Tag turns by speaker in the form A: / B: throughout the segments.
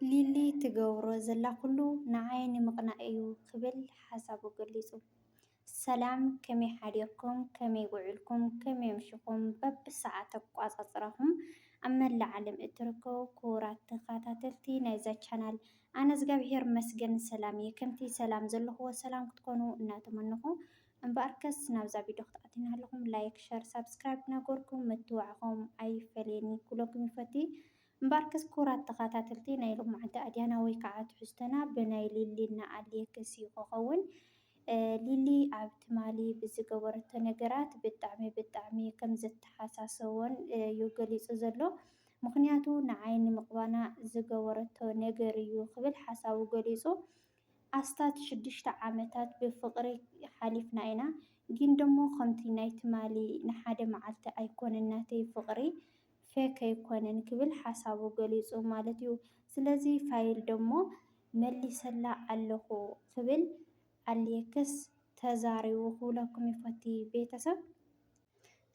A: ሊሊ ትገብሮ ዘላ ኩሉ ንዓይ ንምቕናእ እዩ ክብል ሓሳቡ ገሊፁ። ሰላም ከመይ ሓዲርኩም ከመይ ውዒልኩም ከመይ ኣምሽኹም በብሰዓት ኣቋፃፅራኹም ኣብ መላእ ዓለም እትርከቡ ክቡራት ተኸታተልቲ ናይዛ ቻናል ኣነ እዝጋብሄር መስገን ሰላም እየ ከምቲ ሰላም ዘለኹዎ ሰላም ክትኮኑ እናተመነኹ እምበኣርከስ ናብዛ ቪድዮ ክትኣትዩና ኣለኹም ላይክ ሸር ሳብስክራይብ ናገርኩም ምትዋዕኹም ኣይፈለየኒ ክብለኩም ይፈቲ እምበኣርከስ ክቡራት ተኻታተልቲ ናይ ሎማዓንቲ ኣድያና ወይ ካዓ ትሕዝቶና ብናይ ሊሊ እናኣልየ ክሲ ክኸውን ሊሊ ኣብ ትማሊ ብዝገበረቶ ነገራት ብጣዕሚ ብጣዕሚ ከምዘተሓሳሰቦን እዩ ገሊፁ ዘሎ ምኽንያቱ ንዓይ ንምቕባና ዝገበረቶ ነገር እዩ ክብል ሓሳቡ ገሊፁ ኣስታት ሽዱሽተ ዓመታት ብፍቕሪ ሓሊፍና ኢና ጊን ደሞ ከምቲ ናይ ትማሊ ንሓደ ማዓልቲ ኣይኮነን ናተይ ፍቕሪ ፌክ ኣይኮነን ክብል ሓሳቡ ገሊጹ ማለት እዩ። ስለዚ ፋይል ደሞ መሊሰላ ኣለኹ ክብል ኣሌክስ ተዛሪቡ ክብለኩም ይፈቲ ቤተሰብ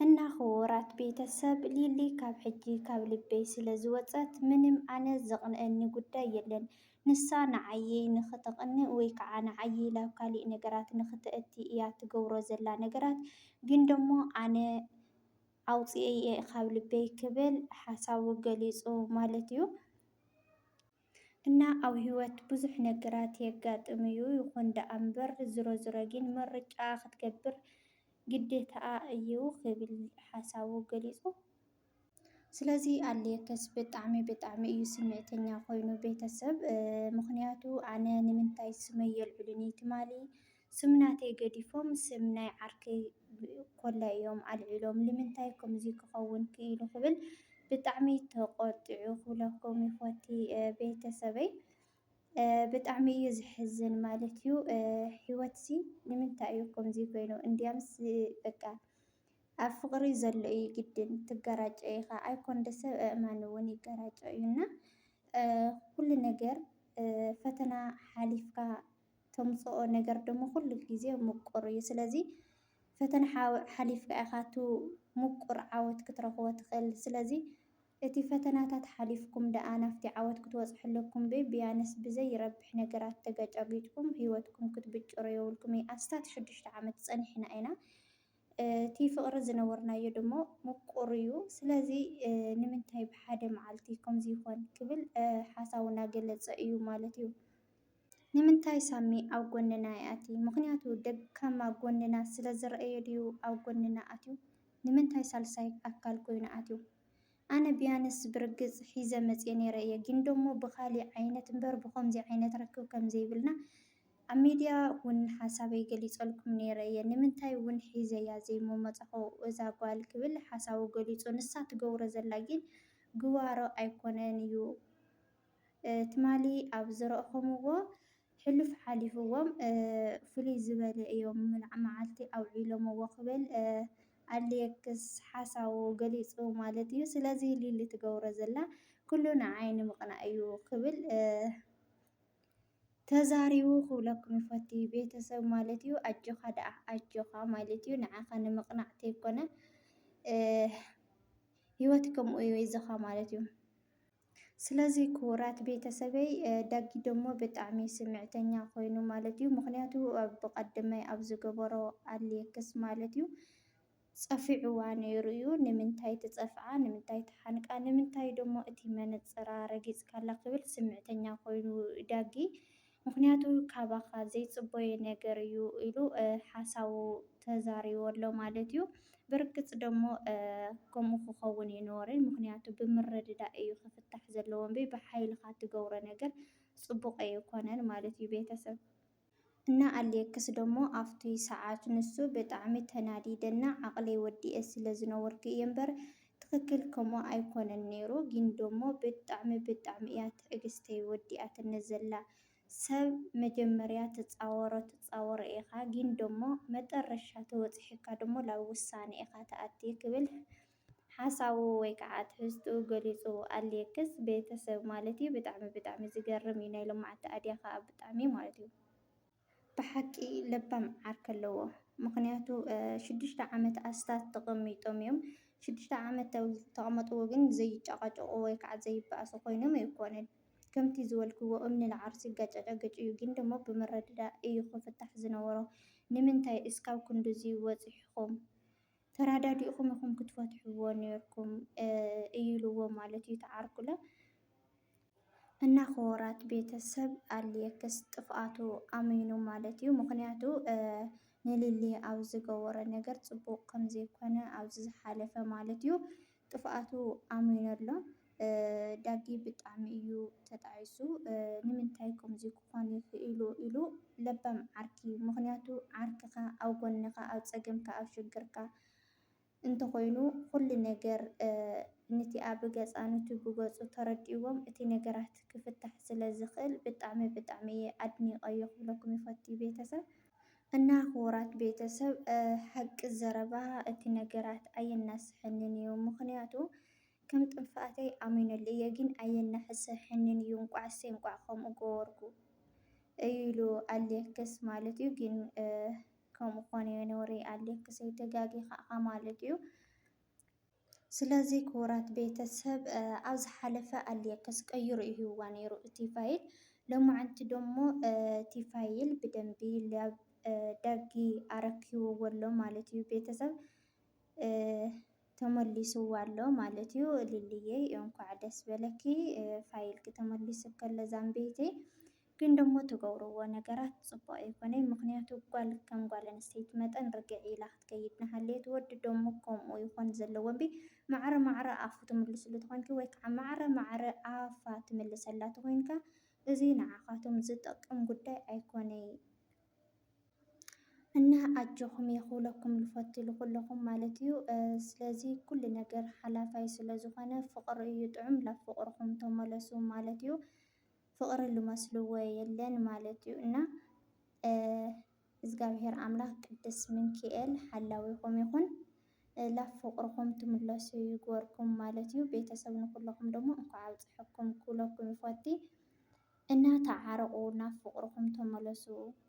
A: እና ክቡራት ቤተሰብ ሊሊ ካብ ሕጂ ካብ ልበይ ስለ ዝወጸት ምንም ኣነ ዘቕንኣኒ ጉዳይ የለን ንሳ ንዓየይ ንኽተቕንእ ወይ ከዓ ንዓየይ ላብ ካሊእ ነገራት ንኽተእቲ እያ ትገብሮ ዘላ ነገራት ግን ደሞ ኣነ ኣውጺኤ'የ ካብ ልበይ ክብል ሓሳቡ ገሊጹ ማለት'ዩ። እና ኣብ ህይወት ብዙሕ ነገራት የጋጥም'ዩ፣ ይኹን ደኣ'ምበር ዝሮዝሮ ግን ምርጫ ክትገብር ግዴታኣ እዩ ክብል ሓሳቡ ገሊጹ። ስለዚ ኣሌክስ ብጣዕሚ ብጣዕሚ እዩ ስምዒተኛ ኮይኑ ቤተሰብ፣ ምኽንያቱ ኣነ ንምንታይ ስመይ የልዕሉኒ ትማሊ ስም ናተይ ገዲፎም ስም ናይ ዓርከይ ኮላይ እዮም ኣልዒሎም ልምንታይ ከምዙይ ክኸውን ክኢሉ ክብል ብጣዕሚ ተቖጢዑ ክብለኩም ይፈቲ ቤተሰበይ ብጣዕሚ እዩ ዝሕዝን ማለት እዩ። ህይወት ሲ ንምንታይ እዩ ከምዚ ኮይኑ? እንዲያምስ በቃ ኣብ ፍቅሪ ዘሎ እዩ ግድን ትገራጨ ኢኻ ኣይኮን ደሰ እእማን እውን ይገራጨ እዩ እና ኩሉ ነገር ፈተና ሓሊፍካ ተምጽኦ ነገር ደሞ ኩሉ ግዜ ምቁር እዩ። ስለዚ ፈተና ሓሊፍካ ኢኻ እቲ ምቁር ዓወት ክትረኽቦ ትኽእል። ስለዚ እቲ ፈተናታት ሓሊፍኩም ደኣ ናብቲ ዓወት ክትበጽሑ ኣለኩም እምበይ ብያነስ ብዘይረብሕ ነገራት ተገጫጊጭኩም ህይወትኩም ክትብጭሩ የብልኩምን። ኣስታት ሽዱሽተ ዓመት ጸኒሕና ኢና። እቲ ፍቕሪ ዝነበርናዮ ደሞ ምቁር እዩ። ስለዚ ንምንታይ ብሓደ መዓልቲ ከምዚ ይኾን ክብል ሓሳቡ እናገለጸ እዩ ማለት እዩ። ንምንታይ ሳሚ ኣብ ጎንና ይኣቲ ምክንያቱ ደካማ ጎንና ስለ ዝረኣዮ ድዩ ኣብ ጎንና ኣትዩ ንምንታይ ሳልሳይ ኣካል ኮይኑ ኣትዩ ኣነ ብያንስ ብርግጽ ሒዘ መጽየ ነይረ እየ ግን ደሞ ብካሊእ ዓይነት እምበር ብኮምዚ ዓይነት ርክብ ከም ዘይብልና ኣብ ሚድያ ውን ሓሳበይ ገሊጸልኩም ነይረ እየ ንምንታይ ውን ሒዘያ ዘይምመጻኩ እዛ ጋል ክብል ሓሳቡ ገሊጹ ንሳ ትገብሮ ዘላ ግን ግዋሮ ኣይኮነን እዩ ትማሊ ኣብ ዝረእኹምዎ ሕሉፍ ሓሊፍዎም ፍልይ ዝበለ እዮም መዓልቲ ኣውዒሎምዎ ክብል ኣሌክስ ሓሳቡ ገሊጹ ማለት እዩ። ስለዚ ሊሊ ትገብሮ ዘላ ኩሉ ንዓይ ንምቕናእ እዩ ክብል ተዛሪቡ ክብለኩም ይፈቱ ቤተሰብ ማለት እዩ። ኣጆኻ ደኣ ኣጆኻ ማለት እዩ ንዓኻ ንምቕናዕ ተይኮነ ህይወት ከምኡ እዩ ይዞኻ ማለት እዩ። ስለዚ ክቡራት ቤተሰበይ ዳጊ ደሞ ብጣዕሚ ስምዕተኛ ኮይኑ ማለት እዩ። ምክንያቱ ብቀድመይ ኣብ ዝገበሮ ኣሌክስ ማለት እዩ ጸፊዕዋ ነይሩ እዩ። ንምንታይ ትጸፍዓ፣ ንምንታይ ትሓንቃ፣ ንምንታይ ደሞ እቲ መነጽራ ረጊጽካላ ክብል ስምዕተኛ ኮይኑ ዳጊ ምኽንያቱ ካባኻ ዘይጽበዮ ነገር እዩ ኢሉ ሓሳቡ ተዛሪቡ ኣሎ ማለት እዩ። ብርግጽ ደሞ ከምኡ ክኸውን እዩ ነወሪ፣ ምኽንያቱ ብምርድዳእ እዩ ክፍታሕ ዘለዎ እምበይ ብሓይልኻ ትገብሮ ነገር ጽቡቕ ኣይኮነን ማለት እዩ ቤተሰብ። እና ኣሌክስ ደሞ ኣብቲ ሰዓት ንሱ ብጣዕሚ ተናዲደ እና ዓቕለይ ወዲኤ ስለ ዝነበርኩ እየ እምበር ትክክል ከምኡ ኣይኮነን ነይሩ ጊን ደሞ ብጣዕሚ ብጣዕሚ እያ ትዕግስተይ ወዲኣትኒ ዘላ ሰብ መጀመርያ ትጻወሮ ትጻወሮ ኢካ ጊን ደሞ መጠረሻ ተበጺሒካ ደሞ ላብ ውሳነ ኢካ ትኣቲ ክብል ሓሳቡ ወይ ካዓ ትሕዝትኡ ገሊጹ ኣሌክስ ቤተሰብ ማለት እዩ ብጣዕሚ ብጣዕሚ ዝገርም እዩ ናይ ሎማዓቲ ኣድያ ካኣ ብጣዕሚ ማለት እዩ ብሓቂ ለባም ዓርኪ ኣለዎ ምክንያቱ ሽዱሽተ ዓመት ኣስታት ተቀሚጦም እዮም ሽዱሽተ ዓመት ኣብ ዝተቀመጥዎ ግን ዘይጫቃጨቁ ወይ ከዓ ዘይበኣሱ ኮይኖም ኣይኮነን ከምቲ ዝበልክዎ እምኒ ንዓርሱ ይጋጫጫገጭ እዩ ግን ደሞ ብምርድዳእ እዩ ክፍታሕ ዝነበሮ ንምንታይ እስካብ ክንድዙይ ወፂሕኩም ተራዳዲእኹም ኢኹም ክትፈትሕዎ ኔርኩም እዩ ኢልዎ ማለት እዩ ተዓርኩለ እና ክወራት ቤተሰብ ኣልየክስ ጥፍኣቱ ኣሚኑ ማለት እዩ ምክንያቱ ንሊሊ ኣብ ዝገበሮ ነገር ፅቡቅ ከምዘይኮነ ኣብዚ ዝሓለፈ ማለት እዩ ጥፍኣቱ ኣሚኑ ኣሎ ዳጊ ብጣዕሚ እዩ ተጣዒሱ ንምንታይ ከምዙይ ክኾን ይኽኢሉ ኢሉ ለባም ዓርኪ ምኽንያቱ ዓርክኻ ኣብ ጎንኻ ኣብ ፀገምካ ኣብ ሽግርካ እንተኾይኑ ኹሉ ነገር ንቲኣ ብገፃ ንቱ ብገፁ ተረዲእዎም እቲ ነገራት ክፍታሕ ስለዝኽእል ብጣዕሚ ብጣዕሚ እየ ኣድኒቀዮ ክብለኩም ይፈቱ ቤተሰብ። እና ክቡራት ቤተሰብ ሓቂ ዘረባ እቲ ነገራት ኣየናስሐንን እዩ ምክንያቱ ከም ጥንፋኣተይ ኣሚነሉ እየ ግን ኣየናሕሰሐንን እዩ እንቋዕ እሰይ እንቋዕ ከምኡ ገበርኩ እዩ ኢሉ ኣሌክስ ማለት እዩ ግን ከምኡ ኮነ ነውሪ ኣሌክሰይ ተጋጊካ እካ ማለት እዩ ስለዚ ክቡራት ቤተ ሰብ ኣብ ዝሓለፈ ኣልየክስ ቀይሩ እህዋ ነይሩ እቲ ፋይል ሎማዓንቲ ደሞ እቲ ፋይል ብደንቢ ዳጊ ኣረኪብዎ ኣሎ ማለት እዩ ቤተ ሰብ ተመሊስዋ ኣሎ ማለት እዩ ሊሊየይ እንኳዕ ደስ በለኪ ፋይልኪ ተመሊሱ ከሎ ዛምቤተይ ግን ደሞ ትገብርዎ ነገራት ጽቡቅ ኣይኮነይ ምክንያቱ ጋል ከም ጋል ኣንስተይቲ መጠን ርግዒ ኢላ ክትከይድ ናሃለየት ወዲ ደሞ ከምኡ ይኮን ዘለዎ እምቢ ማዕረ ማዕረ ኣፉ ትምልስሉ ተኮንኪ ወይ ካዓ ማዕረ ማዕረ ኣፋ ትምልሰላ ተኮንካ እዙይ ናዓካቱም ዝጠቅም ጉዳይ ኣይኮነይ እና ኣጆኩምየ ክብለኩም ልፈቱ ልኩለኩም ማለት እዩ ስለዚ ኩሉ ነገር ሓላፋይ ስለ ዝኮነ ፍቅሪ እዩ ጥዑም ላብ ፍቅርኩም ተመለሱ ማለት እዩ ፍቅሪ ልመስልዎ የለን ማለት እዩ እና እዝጋብሄር ኣምላክ ቅድስ ምንኪኤል ሓላዊኩም ይኩን ላብ ፍቅርኩም ትምለሱ ይግበርኩም ማለት እዩ ቤተሰብ ንኩለኩም ደሞ እንኳዕ ኣብፀሐኩም ክብለኩም ይፎቲ እና ተዓረቁ ናብ ፍቅርኩም ተመለሱ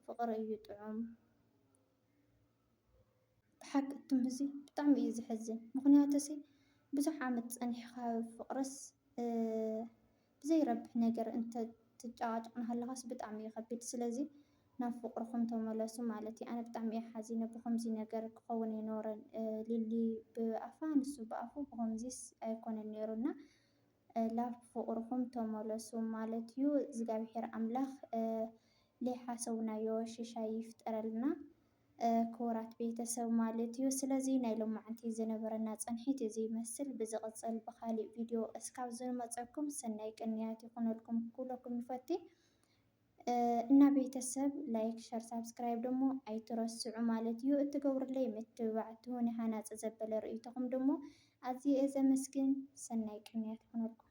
A: ፍቅሪ እዩ ጥዑም። ብሓቂ ትም እዚ ብጣዕሚ እዩ ዘሕዝን። ምኽንያቱ ሲ ብዙሕ ዓመት ፀኒሕኻ ፍቅርስ ብዘይረብሕ ነገር እንትትጨቃጨቅ እናሃለኻስ ብጣዕሚ እዩ ከቢድ። ስለዚ ናብ ፍቅርኹም ተመለሱ ማለት እዩ። ኣነ ብጣዕሚ እየ ሓዚነ ብኸምዚ ነገር ክኸውን ኣይነበሮን ሊሊ ብኣፋ ንሱ ብኣፉ ብኸምዚስ ኣይኮነን ነይሩ እና። ላፍ ብፍቅርኩም ተመለሱ ማለት እዩ እዝጋቢሄር ኣምላክ ልይሓሰብናዮ ሽሻይ ይፍጠረልና ክቡራት ቤተሰብ ማለት እዩ ስለዚ ናይ ሎማዓንቲ ዝነበረና ፅንሒት እዚ ይመስል ብዝቅፅል ብካሊእ ቪድዮ እስካብ ዝንመፀኩም ሰናይ ቅንያት ይኩነልኩም ክብለኩም ይፈቲ እና ቤተሰብ ላይክ ሸር ሳብስክራይብ ደሞ ኣይትረስዑ ማለት እዩ እትገብሩለይ ምትብባዕ ትሁኒ ሃናፂ ዘበለ ርእይቶኹም ደሞ ኣዝየ እየ ዘመስግን ሰናይ ቅንያት ይኹነልኩም።